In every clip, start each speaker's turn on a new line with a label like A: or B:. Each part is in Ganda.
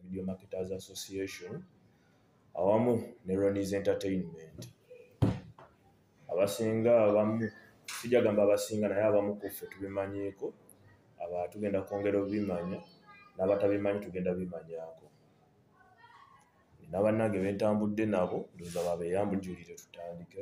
A: Video Marketers Association awamu ne Ronnie's Entertainment. Abasinga abamu sijja gamba abasinga naye abamu ku ffe tubimanyiiko, aba tugenda kwongera obimanya n'abatabimanyi tugenda bimanyaako. Nina bannange bentambudde nabo ndowooza babeeyambujulire tutandike.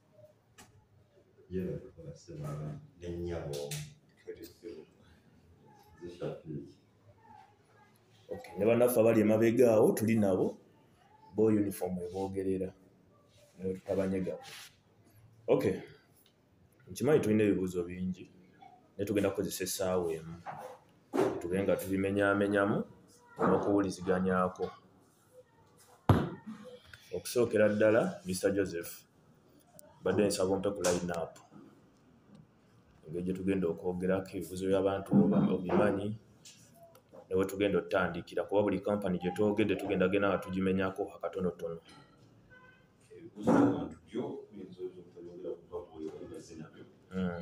B: yera
C: kukola semana nenyabo zishafiki
A: okay. ne banaffe abali emabega awo tuli nabo bo uniform ebogerera newetutabanyega okay nkimanyi tulina ebibuuzo bingi naye tugenda kukozesa essaawa emu tube nga tubimenyamenyamu n'okuwuliziganyako okusookera ddala mr joseph mbadde nsaba ompe ku line up engeri gye tugenda okwogerako ebibuzo by'abantu obimanyi newe tugenda otutandikira kuba buli kampany gye twogedde tugenda genda nga tugimenyako akatonotono hmm.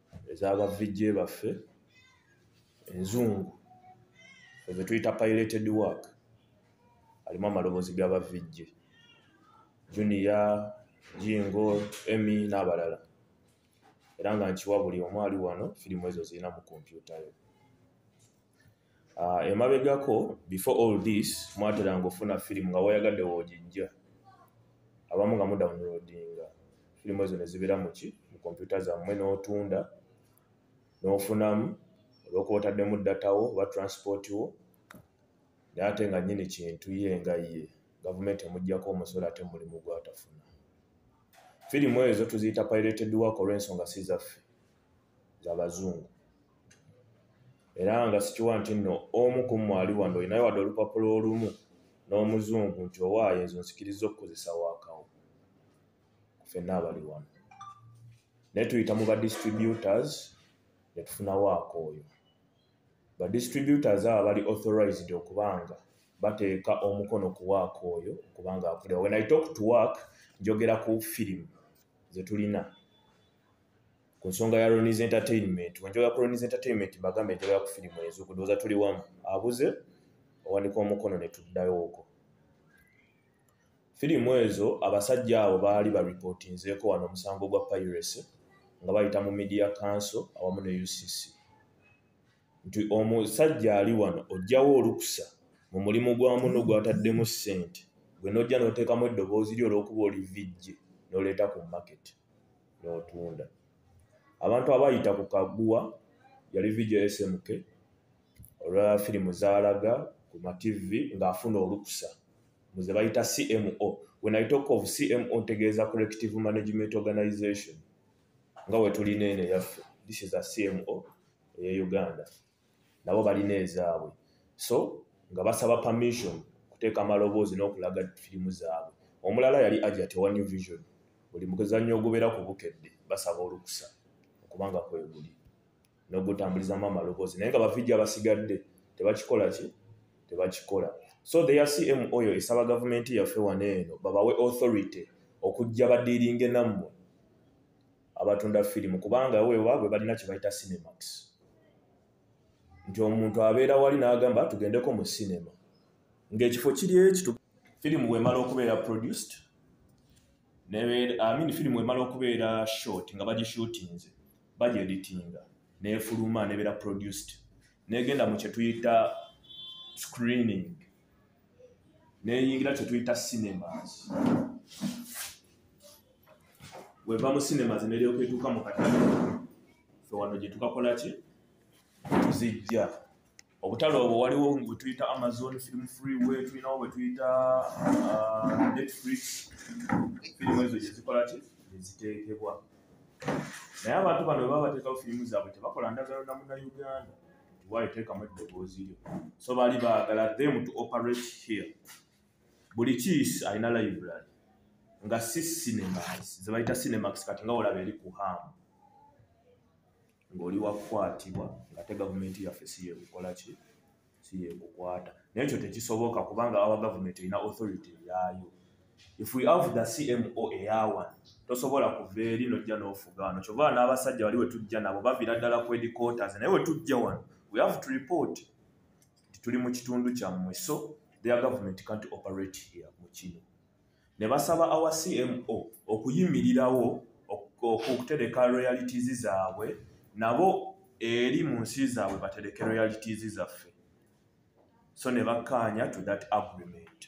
A: ezaba VJ baffe enzungu ezo tuyita pilated work alimu amaloboozi gaba VJ junior jingo emi n'abalala era nga nkiwa buli omu ali wano firimu ezo zirina mu kompyuta yo Ah, emabegako before all this mwateranga ofuna firimu nga wayagadde wogijja abamu nga mudownloadinga firimu ezo nezibeera muki mu kompyuta zammwe n'otunda n'ofunamu olwokuba otaddemu datawo oba transport wo naye ate nga nyini kintu ye nga ye gavumenti emugjako omusolo ate mulimu gwatafuna firimu ezo tuziyita pirated work olw'ensonga si zaffe zabazungu era nga sikiwa nti nno omu ku mmwe ali wano olinayo wadde olupapula olumu n'omuzungu nti owaayo ezo nsikiriza okukozesa waakawo fenna abali wano naye tuyita mu badistributors ne tufuna waaka oyo badistributors abo bali authorized okubanga bateeka omukono ku waaka oyo okubanga akulira when i talk to work njogera ku firimu ze tulina ku nsonga ya Ronnie's Entertainment, wenjoga ya Ronnie's Entertainment mbagambe enjoga ya kufirimu ezo kudoza tuli wamu abuze owanika omukono ne tuddayo oko. Firimu ezo abasajja abo baali ba reportinzeko wano omusango gwa piracy nga bayita mu media council awamu ne UCC. Nti omusajja ali wano ojjawo olukusa mu mulimu gwa muno gwataddemu ssente gwe nojja n'oteekamu eddoboozi lyo olw'okuba oli vijje n'oleeta ku market. n'otunda abantu abayita ku kaguwa yali vidio smk olwa firimu zaalaga ku mativi ng'afuna olukusa muze bayita cmo when i talk of cmo ntegeeza collective management organization nga wetulina eno eyaffe this is a cmo eye uganda nabo balina ezaabwe so nga basaba permission okuteeka amaloboozi n'okulaga firimu zaabwe omulala yali ajat owa new vision buli mukuzannya ogubeera ku bukedde basaba olukusa okubanga kweguli n'ogutambulizamu amaloboozi naye nga bavijja abasigadde tebakikola ki tebakikola so the yacm oyo esaba gavumenti yaffe wano eno babawe authority okujja badiiringe nammwe abatunda firimu kubanga wewaabwe balina kyebayita cinemax nti omuntu abeera wali n'agamba tugendeko mu cinema ng'ekifo kiri ekitu firimu wemala okubeera produced amin firimu wemala okubeera short nga bagishutinze bagyeditinga nefuluma nebeera produced negenda mu kyetuyita screening neyingira kyetuyita cinemas weva mu cinemas neryoka etuuka mu katale fe wano gyetukakola ki tuzijja obutale obwo waliwo bwetuyita amazon film free way tulinawo bwetuyita uh, netflix firimu ezo gyezikola ki neziteekebwa naye abantu bano baba bateekawo firimu zaabwe tebakola ndagano na munauganda waayo teekamu eddoboozi lyo so baali baagala them to operate here buli kiisi alina library nga si cinemax ze bayita cinemax kati nga olaba eri ku hamu ng'oli wakukwatibwa ngate gavumenti yaffe si yeekukola ki si yeekukwata naye ekyo tekisoboka kubanga awa gavumenti erina authority yaayo if we have the cmo eyawan tosobola kuva eri nojja n'ofuga wano kyova n'abasajja wali wetujja nabo bavira ddala ku edicotas naye wetujja wano we have to report nti tuli mu kitundu kyammwe so their government can't operate here mu kino ne basaba awa cmo okuyimirirawo okutereka realities zaabwe nabo eri mu nsi zaabwe batereke realities zaffe so ne bakkaanya to that agreement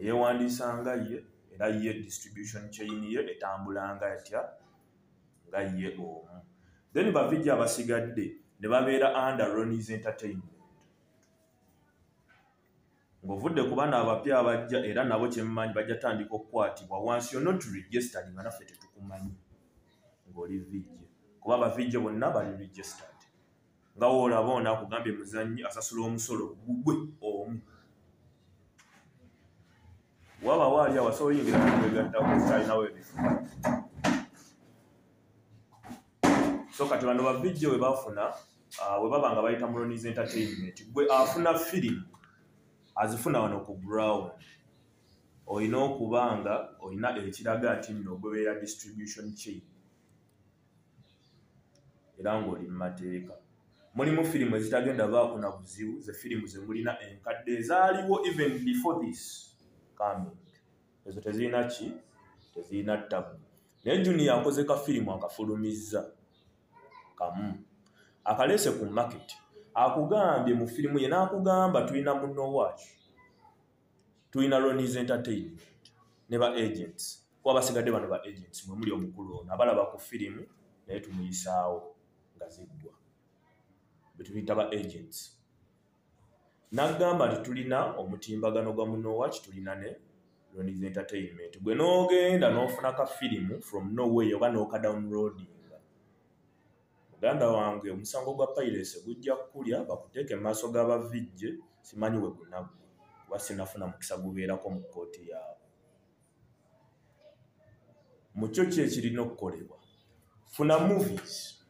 A: eyewandiisa nga ye era ye distribution chain ye etambula nga etya nga ye omu then bavijja abasigadde ne babeera under ronis entertainment ng'ovudde ku bana abapya abajja era nabo kyemmanyi bajja tandika okukwatibwa wansi yo not registered nga naffe tetukumanyi ng'oli vijje kuba bavijje bonna bali registered nga woolaba ono akugambye muzannyi asasula omusolo gugwe omu waba waali awo asobola oyingira mwegattakutalinawo ebifo so kati bano bavijjo we bafuna ah, we baba nga bayita mulonis entertainment gwe afuna firimu azifuna wano ku ground olina okuba nga olina ekiraga nti nno ogobeera distribution chain era ng'oli mu mateeka mulimu firimu ezitagenda baako na buzibu ze firimu ze mulina enkadde ezaaliwo even before this coming ezo tezirina ki tezirina ttabu naye juniya akoze ka firimu akafulumizza kamu akaleese ku maketi akugambye mu firimu ye n'akugamba tulina munowaaki tulina lonies entertainment ne ba agents kuba basigadde bano ba agents mwe muli omukulu ono abalaba ku firimu naye tumuyisaawo nga ziggwa betuyita ba agents nagamba nti tulina omutimbagano gwa munowaki tulina ne lonies entertainment gwe n'ogenda n'ofuna ka firimu from noway oba n'okadownloading Muganda wange omusango gwa piracy gujja kukulya bakuteeke mu maaso ga ba VJ simanyi we gunaggwa kuba sinafuna mukisa gubeerako mu kkooti yaabwe. Mu kyo ki ekirina okukolebwa? Funa movies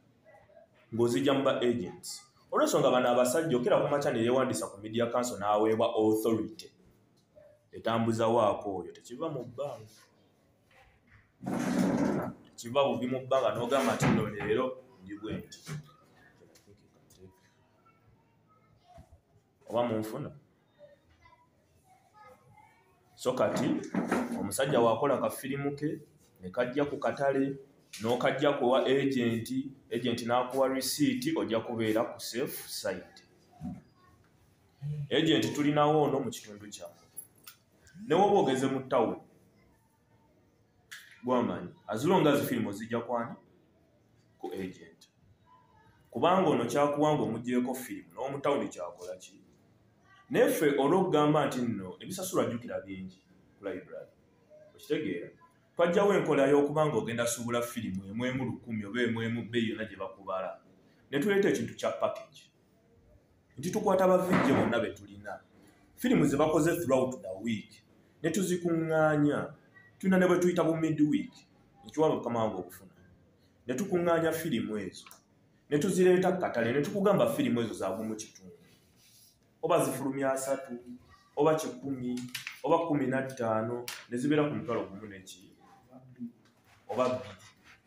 A: ng'ozijja mu ba agents. Olw'ensonga bano abasajja okera ku makya ne yeewandiisa ku Media Council n'aweebwa authority etambuza waaka oyo tekiva mu bbanga. kiva buvi mu bbanga n'ogamba nti no leero ndi bwe nti oba munfuna so kati omusajja wakola kafirimu ke ne kajja ku katale n'okajja kuwa agenti agenti n'akuwa risiiti ojja kubeera ku safe site agenti tulinawo ono mu kitundu kyamu ne woba ogeze mu tawuni gwamanyi azilonga zifirimu ozijja kwani ku agent kubanga ono kyakuwanga omugyeko firimu n'omutawuni kyakola ki naye ffe olwokugamba nti nno ebisasula jjukira bingi ku library okitegeera twajjawo enkola y'okuba nga ogenda suubula firimu emwemu lukumi oba emwemu bbeyi yonna gye bakubala ne tuleeta ekintu kya package nti tukwata bavijje bonna be tulina firimu ze bakoze throughout the week ne tuzikuŋŋaanya tulina ne bwe tuyita bu mid week ekiwaba mukama wange okufuna ne tukuŋŋaanya firimu ezo ne tuzireeta ku katale ne tukugamba firimu ezo zaavu mu kitundu oba zifulumya asatu oba kikumi oba kumi na ttaano ne zibeera ku mutwalo gumu neki oba bbiri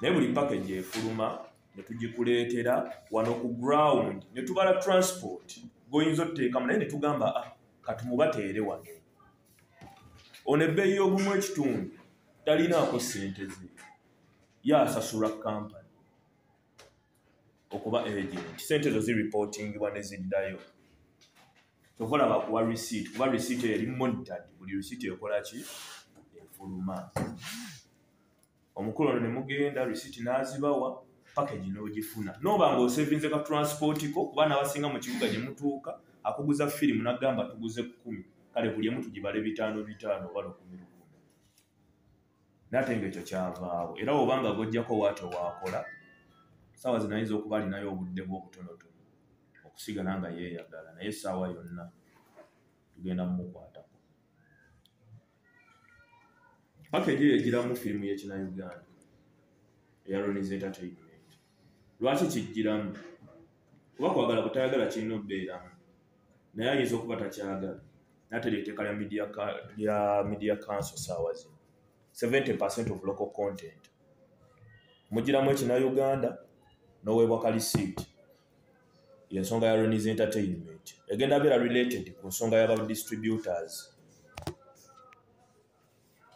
A: naye buli package efuluma netugikuleetera wano ku ground netubala transport goyinza otuteekamu naye netugamba ah, katumubateere wano ono ebbeeyi y'ogumu ekitundu talinaako ssente ze yasasulwa kampani okuba agent ssente ezo ziripotingibwa ne ziddayo tokolaba kuwa receipt kuba receipt eri monitored buli receipt ekolaki efuluma omukulu ono ne mugenda risiti n'azibawa pakagi n'ogifuna nooba nga osevinze ka transpoti ko kuba n'abasinga mu kibuga gye mutuuka akuguza firimu n'agamba tuguze kukumi kale buli emu tugibale bitaano bitaano oba lukumi lukumi nate nga ekyo kyavaawo era oba nga gojjako waati owaakola saawa zinayinza okuba alinayo obudde bw'obutonotono okusigala nga yeeyagala naye essaawa yonna tugenda mumukwatako paka ejo yegiramu firimu yekina uganda eya ronis entertainment lwaki kijjiramu kuba kwagala kutayagala kirina obeeramu naye ayinza okuba takyagala natera eteeka lya media council saawa zino 70 percent of local content mugiramu ekina uganda noweebwa kalisiiti yensonga ya renis entertainment egenda beera related ku nsonga yaba distributors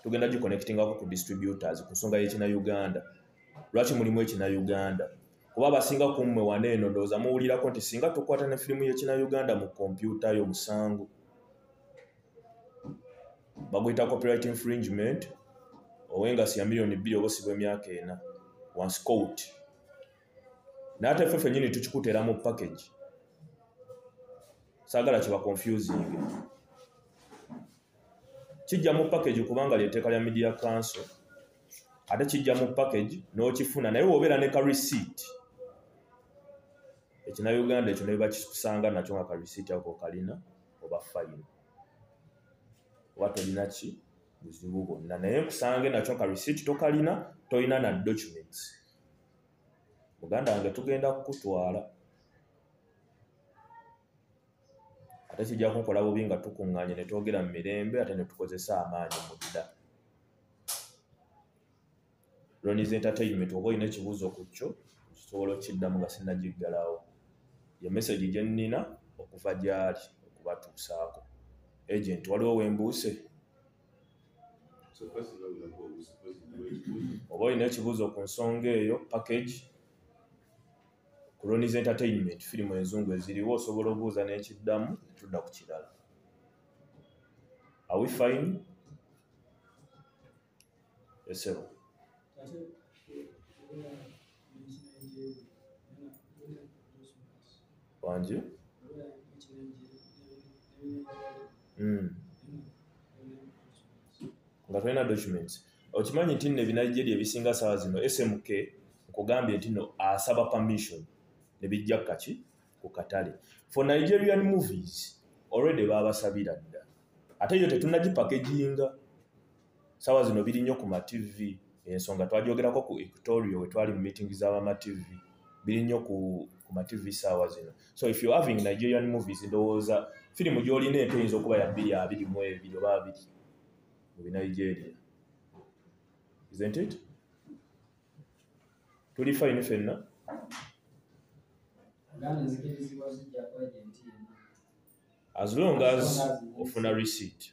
A: tugenda giconnectingako ku distributors ku nsonga yekina uganda lwaki mulimu ekina uganda kuba abasinga ku mmwe wana eno ndowooza muwulirako nti singa tukwata ne firimu yekina uganda mu kompyuta yo musango baguyita copyright infringement owengasi ya miliyoni bbiri oba osibwa emyaka ena wansi court naye ate ffe fenyini tukikutera mu package sagala kiba confusing kijja mu package kubanga lyeteeka lya media council ate kijja mu package n'okifuna naye wobeera ne ka receipt ekina uganda ekyo naye bakikusanga nakyo nga ka receipt ako kalina oba fayiro oba tolina ki buzibu bwonna naye nkusange nakyo ka receipt tokalina tolina na documents muganda wange tugenda kukutwala ate kijja kunkola bubi nga tukuŋŋaanye ne twogera mu mirembe ate ne tukozesa amaanyi mu dda ronis entertainment oba olina ekibuuzo ku kyo kisobola okukiddamu nga sinnagiggalawo ye mesagi gye nnina okuva gy'ali okubatuusaako agenti waliwo wembuuse oba olina ekibuuzo ku nsonga eyo package cronies entertainment firimu enzungu eziriwo osobola obuuza n'ekiddamu tudda ku kirala awi fine esebo Thank you. wangi hmm. nga tolina documents okimanyi nti no ebinaigeria ebisinga sawa zino smk nkugambye nti no asaba permission nebijja kukaki ku katale for nigerian movies already babasabira dda ate yo tetunagipakeginga sawa zino biri nnyo ku matv ensonga twajogerako ku ectorio wetwali mu meeting zabamatv biri nnyo ku, ku matv saawa zino so if you having nigerian movies ndowooza firimu gyolina ento eyinza okuba ya bbiri abiri mu ebiri oba abiri mu binigeria isn't it tuli fayini fenna as long as ofuna receipt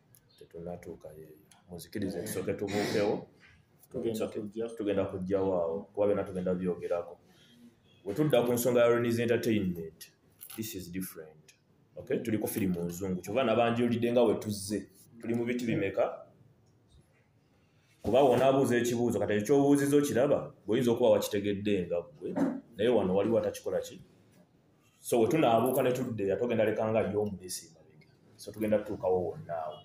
D: tetunatuuka
A: yeyo muzikiriza ekisooke tubuukewo
B: tugenda kujjawo
A: awo kuba byona tugenda byogerako wetudda ku nsonga ya renis entertainment this is different okay tuli ku firimu nzungu kyova nabanjulidde nga wetuzze tuli mu biti bimeka kuba wona abuuza ekibuuzo kati ekyobuuziza okiraba bweoyinza okuba wakitegedde nga gwe naye wano waliwo atakikola ki so we tunaabuuka ne tuddeya tugenda lekanga yo omulesi emabega so tugenda tutuukawo wonnaawo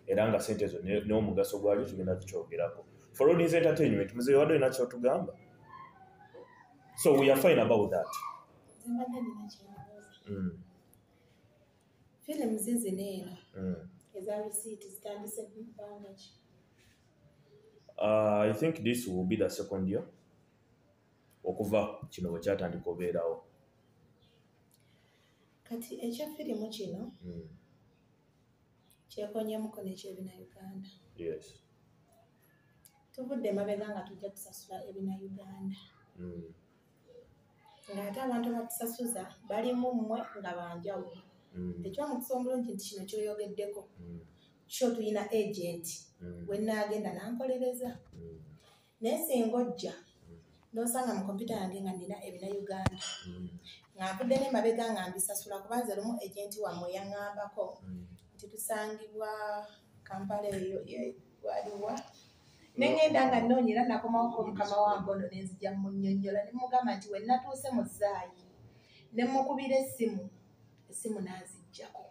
A: era nga sente ezo n'omugaso gwayo tugenda tukyogerako for all these entertainment mzee wade olina kyotugamba so we are fine about that mm.
E: films zino eno mm. eza receipt zitandise bbanga ki
A: uh, i think this will be the second year okuva kino bwe kyatandika obeerawo
E: kati ekya firimu kino hmm. kyekonyemuko nekyebina uganda yes tuvudde emabega nga tujja kusasula ebina uganda hmm. ng'ate abantu abatusasuza balimu mmwe nga banjawulo hmm. ekyomukisa omulungi nti kino kyoyogeddeko kyo tulina agenti wenaagenda nankolereza naye singa ojja nosanga mu kompyuta yange nga nina ebina uganda mm. nga nvudde nemabega nga mbisasula kubanze lumu agenti wamwe yaŋambako mm. nti tusangibwa kampala eyo waliwa nengenda nga noonya era nakomawoko mukama wange ono nenzija munyonyola nemugamba nti wenatuuse mu zaayi nemukubira essimu essimu nazijjako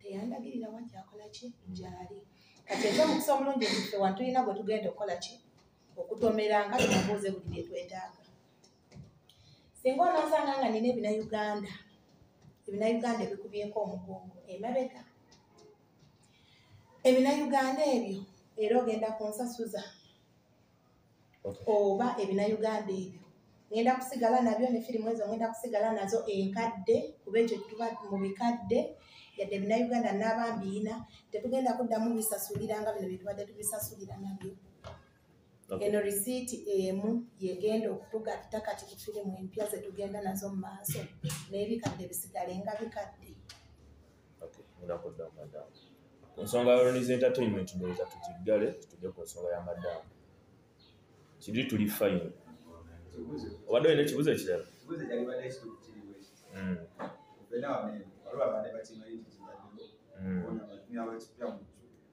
E: teyandagirira wa gyakola ki gyali kati ekyo omukisa omulungi ekife wa tulina gwe tugenda okukola ki okutomera nga tumubuuze buli bye twetaaga singa onoosanga nga nina ebina uganda ebina uganda ebikubyeko omugongo emabega ebina uganda ebyo era ogenda kunsasuza oba ebinayuganda ebyo ngenda kusigala nabyo ne firimu ezo ngenda kusigala nazo enkadde kuba ekyo tuba mu bikadde yadde ebinayuganda n'abambiina tetugenda kuddamu bisasulira nga bino byetubadde tubisasulira nabyo eno risiiti emu yegenda okutugatta kati ku firimu empya zetugenda nazo mu maaso n'ebikadde bisigale nga bikadde okay ngenda kudda
A: madam ku nsonga ya Ronnie's entertainment ndowooza tukiggale tujje ku nsonga ya madam kiri tuli fine obadde olina ekibuzo ekirala
F: Mm. Mm.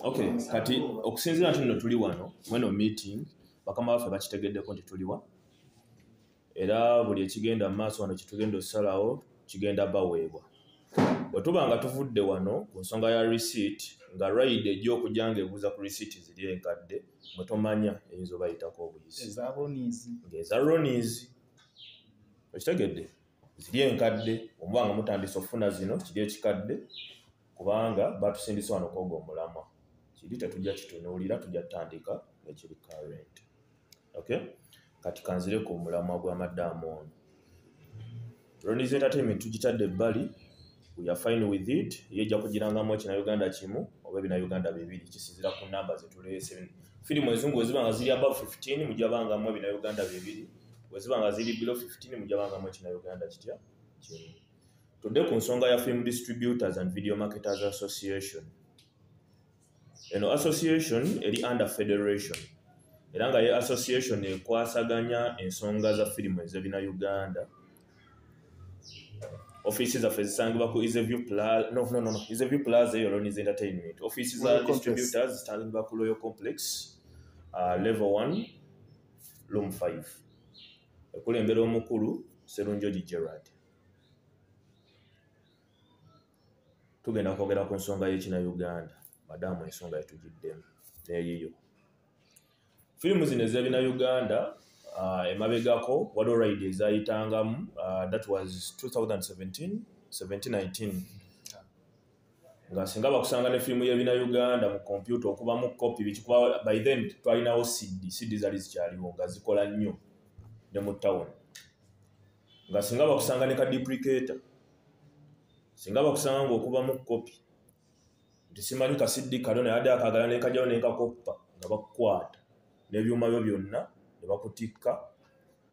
A: okay kati okusinziira nti nno tuli wano mweno meeting bakama baffe bakitegeddeko nti tuliwa era buli ekigenda mu maaso wano kitugenda okusalawo kigenda baweebwa bwe tuba nga tuvudde wano ku nsonga ya receipt nga ride ejja okujja nga ebuuza ku receipt ziri enkadde mwe tomanya eyinza obayitako obuyisi ng'eza ronis okitegedde ziri enkadde omuba nga mutandisa okufuna zino kiri ekikadde kubanga batusindisa wano kwoga omulamwa kiri tetujja kitunuulira tujja tutandika nekiri current okay kati kanzire ku mulamwa gwa madamu ono ronis entertainment tugitadde ebbali we are fine with it ye ejja kugirangamu ekina uganda kimu oba ebina uganda bibiri kisinzira ku namba zetuleese firimu ezungu weziba nga ziri above 15 mujabangamu ebina uganda bibiri weziba nga ziri below 15 mujabangamu ekina uganda kitya kimu tudde ku nsonga ya film distributors and video marketers association eno association eri under federation era nga ye association ekwasaganya ensonga za firimu ezebina uganda offiisi zaffe zisangibwa ku iseview plaza no, no, no, no. iseview plaza eyo loniz entertainment offiisi za Royal Complex. distributors zisangibwa ku royal complex uh, level 1 room 5 ekulembera omukulu serunjoji gerard tugenda kwogera ku nsonga y'ekina uganda madaamu ensonga yetugiddemu neyiyo firimu zino ezebina uganda uh, emabegako waliwo ride ezayitangamu uh, that was 2017 2019 nga singa bakusanga ne firimu yebina uganda mu kompyuta okubamu kopi bikikuba by then twalinawo cd cd zali zikyaliwo nga zikola nnyo ne mu tawuni nga singa bakusanga ne ka depricator singa bakusanga ngaokubamu kopi nti simanyi kasiddi kano naye adde akagala nekajawo nenkakoppa nga bakukwata nebyuma byo byonna nebakutikka